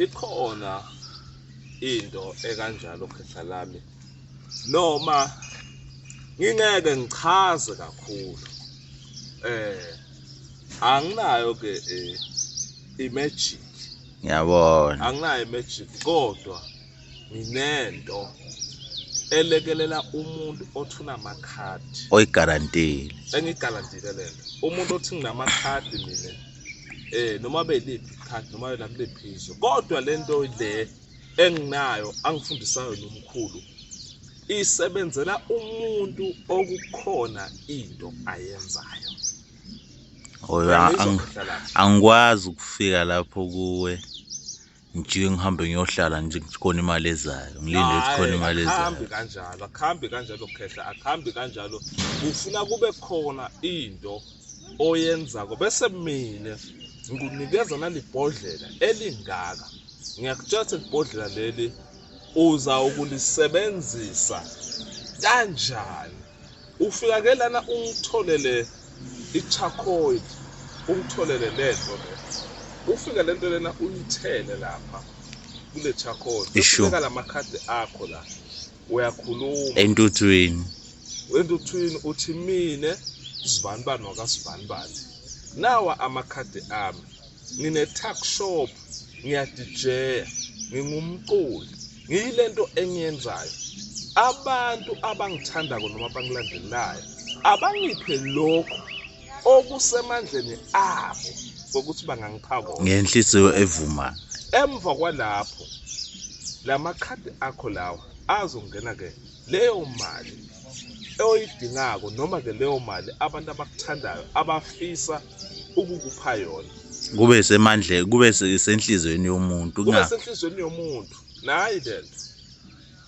ikhona into ekanjalo khetha lami noma ngingeke ngichaze kakhulu eh anginayo ke eh, imagic ngiyabona anginayo imagic kodwa nginento elekelela umuntu othi unamakhadi oyigarantile engigarantile lento umuntu othi nginamakhadi mina eh noma beliphi ikhadi noma yona kuliphi izwe kodwa lento le enginayo angifundisayo nomkhulu isebenzela umuntu okukhona into ayenzayo oyo angikwazi ukufika lapho kuwe ngijike ngihambe ngiyohlala nje khona imali ezayo ngilinde ukuthi khona imali ezayo akuhambi kanjalo akuhambi kanjalo khehla akuhambi kanjalo ufuna kube khona into oyenzako bese mina ngikunikeza nalibhodlela elingaka ngiyakutshela ukuthi libhodlela leli uza ukulisebenzisa kanjani Ufika ke lana ungitholele i-charcoal, ungitholele le nto le. Ufike le nto lena uyithele lapha kule charcoal. Isho. Ufika la makhadi akho la. Uyakhuluma. entuthwini Wentuthwini uthi mina sibani bani wakasibani bani. Nawa amakhadi ami. ngine-tuck shop ngiyadijeya ngingumculi ngiyile nto engiyenzayo abantu abangithandako noma bangilandelayo abangiphe lokhu okusemandleni abo kokuthi bangangiphakona ngenhliziyo evuma emva kwalapho la makhadi akho lawa azongena-ke leyo mali oydingako noma ke leyo mali abantu abakuthandayo abafisa ukukupha yona kube semandle kube senhlizweni yomuntu kube senhlizweni yomuntu nayi lento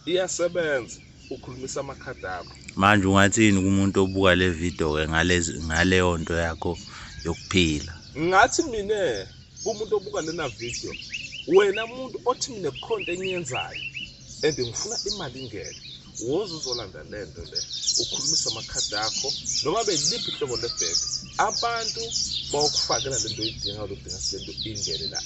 iyasebenza ukhulumisa amakhadi akho manje ungathini kumuntu obuka le video ke ngalezi ngaleyo nto yakho yokuphila ngathi mina kumuntu obuka lena video wena muntu othi mina kukhonto engiyenzayo and ngifuna imali ingene woze uzolanda le nto le ukhulumisa amakhadi akho noma beliphi ihlobo lebheke abantu bawukufakela le nto oyidinga oludinga le nto ingene la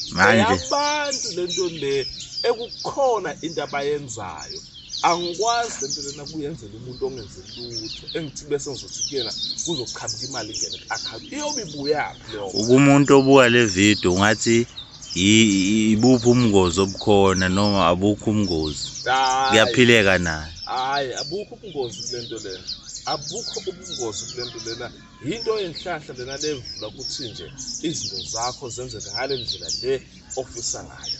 abantu le nto le ekukhona into abayenzayo angikwazi le nto lena kuyenzela umuntu ongenze lutho engithi bese ngizothi kuyena kuzoqhamuka imali ingene ku-akhawunti iyobe ibuyaphi leyo ukumuntu obuka le video ungathi ibuphi umngozi obukhona noma abukho umngozi kuyaphileka nayo hayi abukho ubungozi kule nto lena abukho ubungozi kule nto lena yinto yenhlahla lena levula ukuthi nje izinto zakho zenzeke ngale ndlela le ofisa ngayo